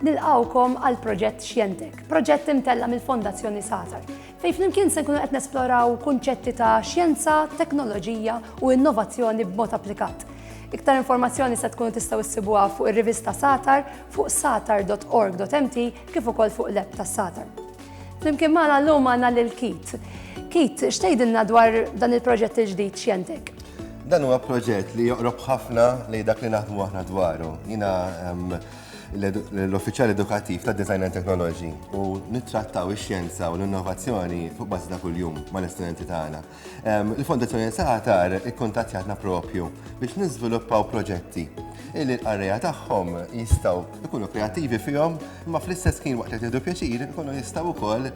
nilqawkom għal proġett Xjentek, proġett imtella mill-Fondazzjoni Satar, fej flimkien se nkunu qed nesploraw kunċetti ta' xjenza, teknoloġija u innovazzjoni b'mod applikat. Iktar informazzjoni se tkunu tistgħu issibuha fuq ir-rivista Satar fuq satar.org.mt kif ukoll fuq l-app tas-Satar. Flimkien magħna llum għandna lil Keith. Keith, x'tgħidilna dwar dan il-proġett il-ġdid x'jentek? Dan huwa proġett li joqrob ħafna li dak li naħdmu aħna dwaru. Jiena ehm, l-uffiċjal edukattiv ta' Design and Technology u nittrattaw ix-xjenza u l-innovazzjoni fuq bażi ta' kuljum mal-istudenti tagħna. Il-Fondazzjoni Satar ikkuntattjatna propju biex niżviluppaw proġetti illi l-qarrejja tagħhom jistgħu jkunu kreattivi fihom, imma fl-istess ħin waqt li qed jieħdu pjaċir ikunu jistgħu wkoll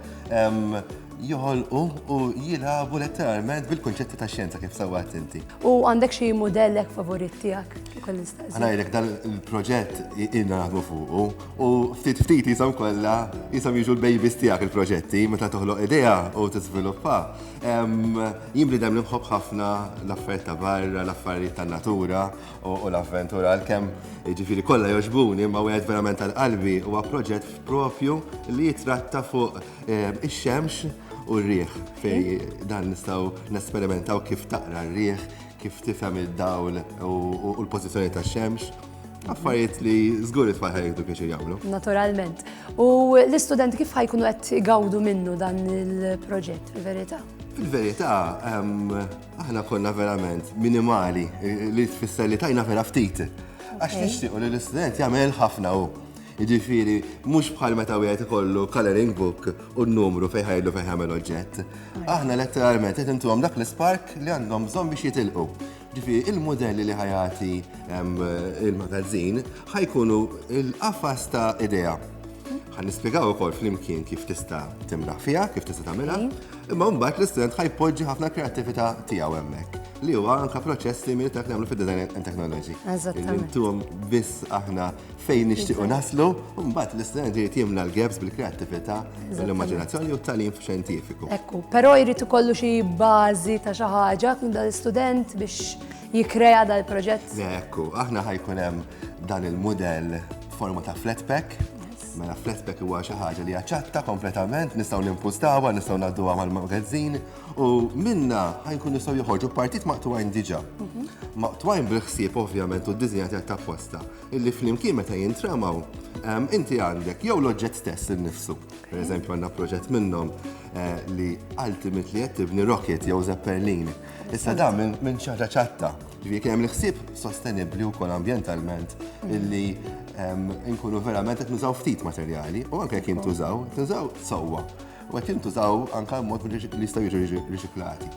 joħolqu u jilagħbu letteralment bil-kunċetti tax-xjenza kif sewwa għedt inti. U għandek xi mudell hekk favorit tiegħek li kolli nistaqsi? Għana jgħidlek dan il-proġett ilna naħdmu fuqu u ftit ftit jisom kollha jisom jiġu l-babies tiegħek il-proġetti meta toħloq idea u tiżviluppa. Jien bnidem li nħobb ħafna l-affarijiet ta' barra, l-affarijiet ta' natura u l-avventura għalkemm ġifieri kollha jogħġbuni ma wieħed verament tal-qalbi huwa proġett propju li jitratta fuq ix-xemx u r-riħ fej dan nistgħu nesperimentaw kif taqra r-riħ, kif tifhem id-dawl u l-pożizzjoni tax-xemx. Affarijiet li żgur it-tfal ħajdu pjaċir jagħmlu. Naturalment. U l-istudenti kif ħajkunu qed igawdu minnu dan il-proġett fil-verità? Fil-verità, ehm, aħna konna verament minimali li tfisser li tajna vera ftit. Għax nixtiequ li l-istudent jagħmel ħafna u. Jiġifieri mhux bħal meta wieħed ikollu coloring book u n-numru fejn ħajlu fejn ħamel oġġett. Aħna letteralment qed intuhom dak l-ispark li għandhom bżonn biex jitilqu. Ġifieri il-mudelli li ħajati il-magazzin ħajkunu l-qafas ta' idea. Ħan nispjegaw ukoll flimkien kif tista' timlaħ fiha, kif tista' tagħmilha, imma mbagħad l-istudent ħajpoġġi ħafna kreattività tiegħu hemmhekk li huwa anke proċess simili ta' nagħmlu fid-design and technology. Eżattament. Intuhom biss aħna fejn nixtiequ naslu, u mbagħad l-istudent irid jimla l-gaps bil-kreattività u l-immaġinazzjoni u t-talim xjentifiku. Ekku, però jrid ikollu xi bażi ta' xi ħaġa kun dal-istudent biex jikrea dal-proġett. Ekku, aħna ħajkun hemm dan il-mudell forma ta' flat pack, Mela flatback huwa xi ħaġa li jaċċatta kompletament, nistgħu nimpustawha, nistgħu ngħadduha mal-magazzin u minna ħajkun nistgħu joħorġu partit maqtuwajn diġà. Mhm. Maqtuwajn bil-ħsieb ovvjament u d-diżinja ta' posta. illi flimkien meta jintramaw, ehm, inti għandek jew l-oġġett stess innifsu. Per eżempju, għandna proġett minnhom eh, li ultimate li qed tibni rocket jew zeppelin. Issa da minn ċaġa ċatta. Ġifieri kien hemm l-ħsieb sostenibbli wkoll ambjentalment illi ehm, nkunu verament qed nużaw ftit materjali u anke jekk jintużaw, tużaw sewwa. u qed jintużaw anke mod li jistgħu jiġu riċiklati.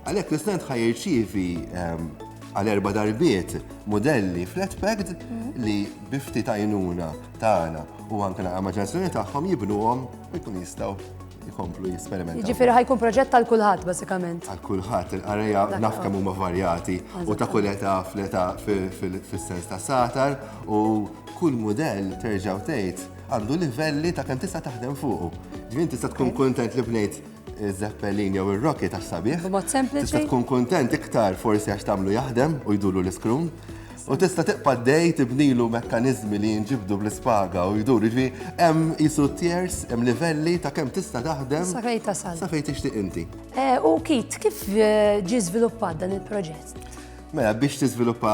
Għalhekk l-istent ħaj jirċievi ehm, għal erba darbiet modelli flat packed li bifti tajnuna tagħna u anke l-immaġinazzjoni tagħhom jibnuhom ikun jistgħu jkomplu jisperimentaw. Ġifieri ħajkun proġett tal kulħadd bażikament. Għal kulħadd il-qareja naf kemm huma varjati u ta' kull età fl-età fis-sens ta' satar u kull mudell terġa' tgħid għandu livelli ta' kemm tista' taħdem fuqu. Ġifieri tista' tkun kuntent li bnejt Zeppelin jew ir-Rocket għax sabiħ. B'mod sempliċi. Tista' tkun kuntent iktar forsi għax tagħmlu jaħdem u jduru l-iskrum. U tista' tibqa' dej tibnilu mekkaniżmi li jinġibdu bl-ispaga u jduru. Ġifieri hemm isu tiers, hemm livelli ta' kemm tista' taħdem. Sa fejn tasal. Sa fejn tixtieq inti. U Kit, kif ġie żviluppat dan il-proġett? Mela, biex tiżviluppa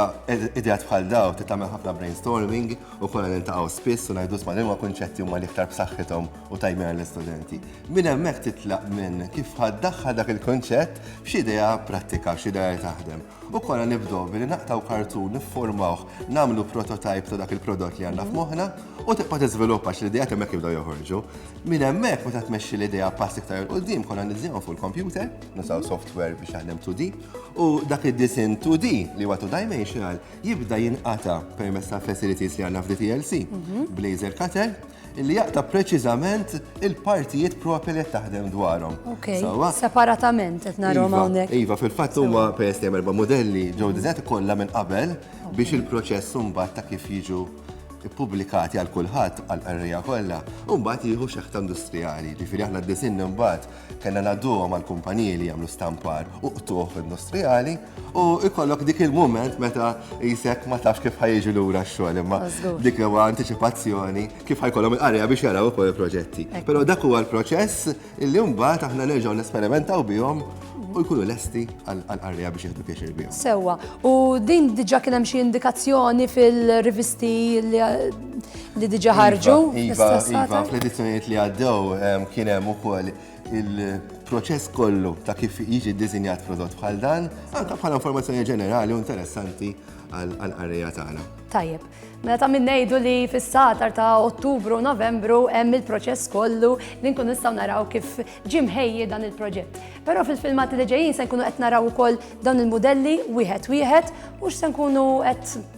ideat bħal daw, tagħmel ħafna brainstorming u konna nintaqgħu spiss u ngħidu ma' liema kunċetti huma l-iktar b'saħħithom u tajbin għall-istudenti. Minn hemmhekk titlaq minn kif ħaddaħħal dak il-kunċett f'xi idea prattika, f'xi idea li taħdem. U konna nibdew billi naqtaw kartun, nifformawh, nagħmlu prototype ta' dak il-prodott li għandna f'moħħna u tibqa' tiżviluppa xi l-idea hemmhekk jibdew joħorġu. Minn hemmhekk meta tmexxi l-idea pass iktar il-quddiem konna niżżiemhom fuq il-kompjuter nusaw software biex jaħdem 2D, u dak id-disin 2D li huwa two dimensional jibda jinqata permezz ta' facilities li għandna f'DTLC, mhm. blazer cutter, li jaqta preċiżament il-partijiet propri li taħdem dwarhom. Separatament qed narhom iva, hawnhekk. Iva, fil-fatt huma peress li erba' modelli ġew diżet kollha minn qabel biex il-proċess mbagħad ta' kif jiġu ippubblikati għal kulħadd għal qarrija kollha, u mbagħad jieħu xeħta industrijali. Ġifieri aħna d-disin mbagħad Kellna ngħadduhom għall-kumpaniji li jagħmlu stampar u qtugħ industrijali u jkollok dik il-mument meta jisek ma tafx kif ħajġu lura x-xogħol imma dik li huwa antiċipazzjoni kif ħajkollhom il-qarja biex jaraw ukoll il-proġetti. Però dak huwa l-proċess li mbagħad aħna nerġgħu nesperimentaw bihom u jkunu lesti għall-qarja biex jieħdu pjaċir bihom. Sewwa, u din diġà kien hemm xi indikazzjoni fil-rivisti li Li diġa ħarġu? Iva, iva, fl-edizzjonijiet li għaddew kien hemm ukoll il-proċess kollu ta' kif jiġi ddisinjat prodott bħal dan, anke bħala informazzjoni ġenerali u interessanti għal-qarrija tagħna. Tajjeb. Mela ta' minnejdu li fis-satar ta' Ottubru u Novembru hemm il-proċess kollu li nkun nistgħu naraw kif ġimħejji dan il-proġett. Però fil-filmati li ġejjin se nkunu qed naraw ukoll dawn il-modelli wieħed wieħed u x'se nkunu qed